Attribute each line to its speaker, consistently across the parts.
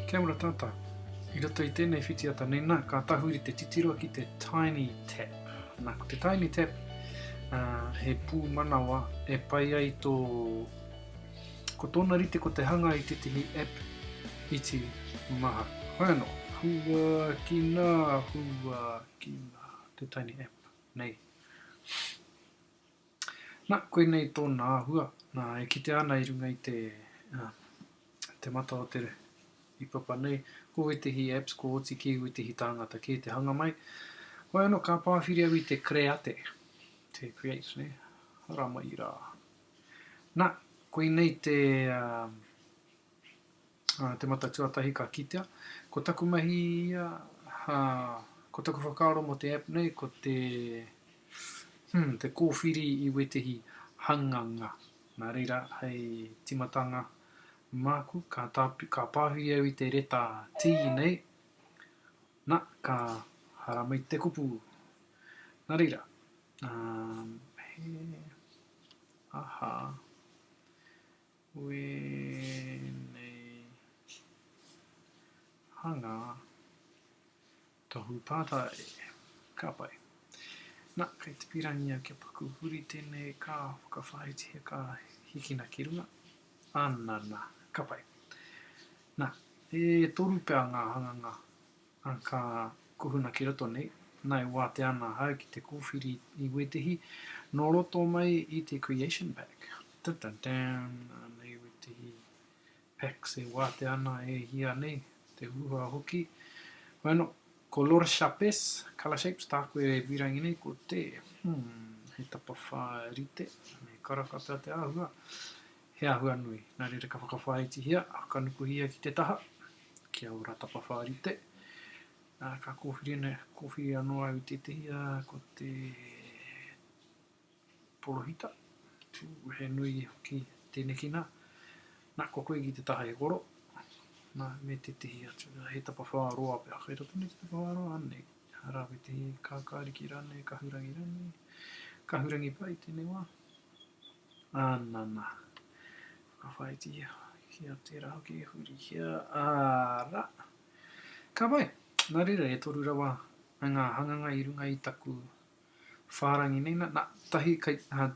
Speaker 1: Kia ora tata. I roto i tenei whitiata nei na, ka tahuri te titiro ki te Tiny Tap. Na, ko te Tiny Tap, uh, he pūmanawa e pai ai tō... Ko tōna rite ko te hanga i tētahi app iti maha. Hoi anō. Hua ki nā, hua ki nā, te Tiny App nei. Na, koinei tōna āhua, na, e kitea ana i runga i te, te mata o te i papa nei, ko wētehi apps, ko oti kē wētehi tāngata kē te hanga mai, wai ano ka pāwhiri au i te kreate, te create, ne, hara mai rā. Na, koinei te, Te Mata Tuatahi ka kitea. Ko taku mahi ia, ko taku whakaaro mō te app nei, ko te, hmm, te kōwhiri i wētehi hanganga. Nā reira, hei timatanga māku, ka, tā, ka pāhui au i te reta tī nei, na, ka haramai te kupu. Nā reira, um, he, aha, Wēnei hanga tohu tata e. Ka pai. Na, kei te pirangia kia paku huri tenei ka whakawhāiti he ka hikina ki runga. Anana. Ka pai. Na, e toru pea nga hanganga Ā, ka kuhuna ki roto nei, nā e wātea ana ahau ki te kōwhiri i wētehi nō roto mai i te Creation Pack. Tan tan tan! Anei wētehi packs e wātea ana e hia nei, te huhua hoki. Bueno, ko Lourdes Chapes, Colour Shapes, tāku e pīrangi nei, ko te, hmm, he tapawhā rite, he karaka pea te āhua, he āhua nui. Nā reira ka whakawhāitihia, ka nukuhia ki te taha. Kia ora tapawhā rite. Nā, ka kōwhiri nei, kōwhiri anō au i tētehi, ā, ko te porohita, ū, he nui hoki tēneki nā. Nā, ko koe ki te taha e koro, nā, me tētehi atu, nā, he tapawhā roa pea, kei roto nei te tapawhā roa, anei, arā, me tētehi kākāriki rānei, kahurangi rānei, kahurangi pai tēnei wā. Ā nana, whakawhāitiia hoki a tērā hoki e huri hia, āra, ka pai. Nā reira, e toru rawa ngā hanganga i runga i taku whārangi nei, nā, tahi kei, ā,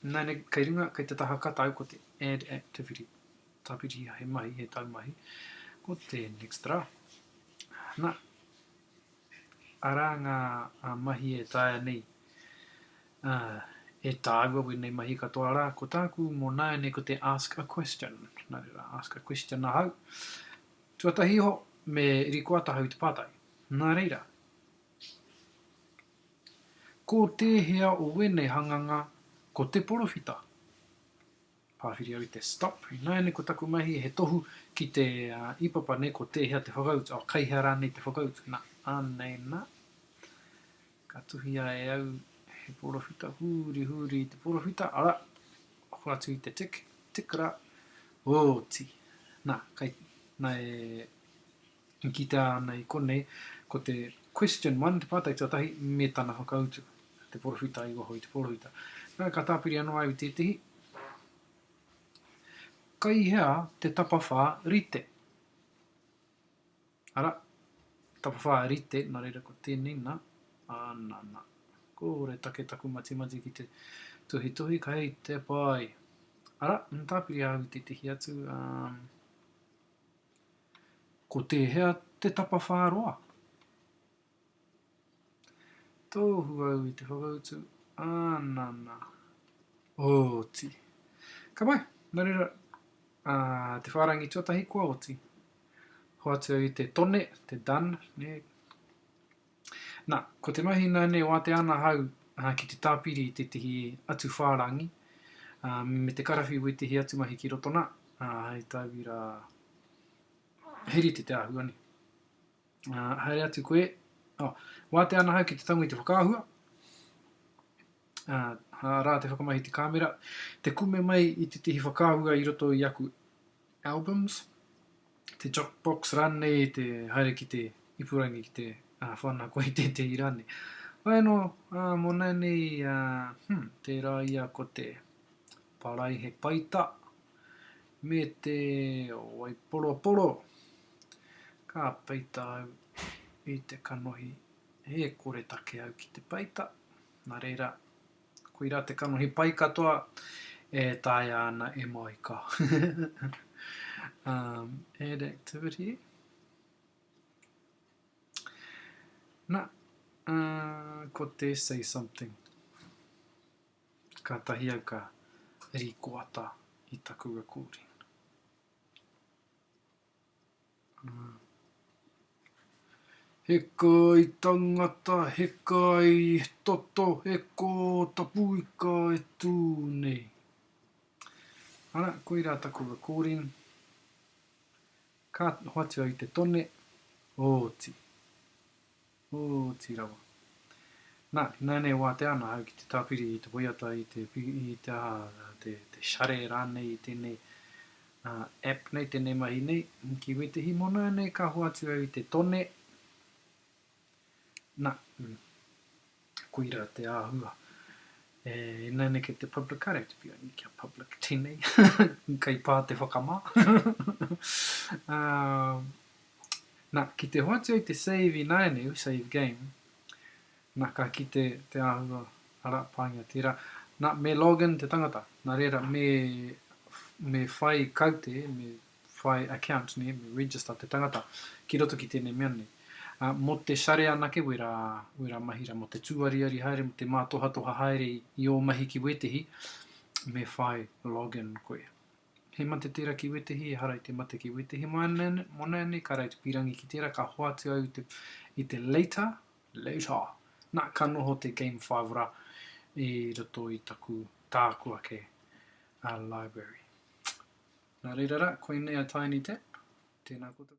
Speaker 1: nāne, kei runga, kei te taha katau ko te add activity, tāpiriha he mahi, he taumahi, ko te next rā. Nā. Arā ngā mahi e taea nei e tāua wēnei mahi katoa rā. Ko tāku mō nāianei ko te ask a question. Nā reira, ask a question ahau. Tuatahi iho, me rikoa tahau te pātai. Nā reira, ko tēhea o wēnei hanganga ko te porowhita? Pāwhiri au i te stop. Ināiane ko taku mahi he tohu ki te ipapa nei ko tēhea te whakautu, oh kei hea rānei te whakautu, nā, anei nā. Ka tuhia e au he porowhita, huri huri i te porowhita, ara, hoatu i te tik, tik rā, oti. Nā, kei, nā e, I kitea ana i konei, ko te Question one, te pātai tuatahi, me tana whakautu, te porowhita i waho i te porowhita. Nā, ka tāpiri anō au i tētehi, Kai hea te tapawhā rite? Ara, tapawhā rite, nā reira ko tēnei, nā, ā, nā, nā. Kore take taku matimati ki te tuhituhi, kei te pai. Ara, tāpiri au i tētehi atu, um, Ko tēhea te tapawhā roa? Tohu au i te whakautu, Ana, na. Oti. Ka pai, na reira, a, te whārangi tuatahi kua oti. Hoatu au i te tone, te done, ne? Nā, ko te mahi nāne wātea ana ahau ki te tāpiri i tētehi atu whārangi, ā, me te karawhiu wētehi atu mahi ki roto nā, ā, hei tauira, he rite te āhua nei. Ā, haere atu koe, oh, wātea ana ahau ki te tango i te whakaahua, Ā, arā te whakamahi i te kāmera, te kume mai i te tihi whakaahua i roto i aku albums, te jok box rānei, te haere ki te ipurangi ki te ā, whana koe i tētehi rānei. Wai anō, ā, mō nāianei, ā, hmm, tērā ia ko te paraihe paita me te waiporoporo. Ka peita au i te kanohi, e kore take au ki te peita. Nā reira, koirā te kanohi pai katoa e taea ana e Moika. um, add activity. Na, uh, ko te say something. Ka tahi au ka rikoata i taku recording. Heka i tangata, heka i toto, he ko Tapuika e tū nei. Ara, koirā taku recording. Ka hoatu au i te tone, oti. Oti rawa. Na, inaianei watea ana ahau ki te tapiri i te waiata i te i te aha, te, te share ranei i tenei uh, app nei, tenei mahi nei, ki wetihi mona nei ka hoatu au i te tone, na, mm. Koira te āhua. E inane kei te publicare to be only kia public tenei kei pā te whakamā. um, na, ki te hoatu ai te save inane, save game, na ka ki te, te āhua ara pāngia tērā. Na, me login te tangata. Na reira, me, me whai kaute, me whai account nei, me register te tangata ki roto ki tēnei mea nei. Ā, mō te share anake wērā, wērā mahi rā, mō te tūariari haere, mō te mātohatoha haere i, i ō mahi ki wētehi, me whai log in koe. He mate tērā ki wētehi, ehara i te mate ki wētehi. Mō nāianei, ka rae te pīrangi ki tērā, ka hoatu au i te, i te later, later, nā, ka noho te game five rā i roto i taku, tāku ake a library. Nā reira rā, koinei a Tiny Tap, tēnā koutou.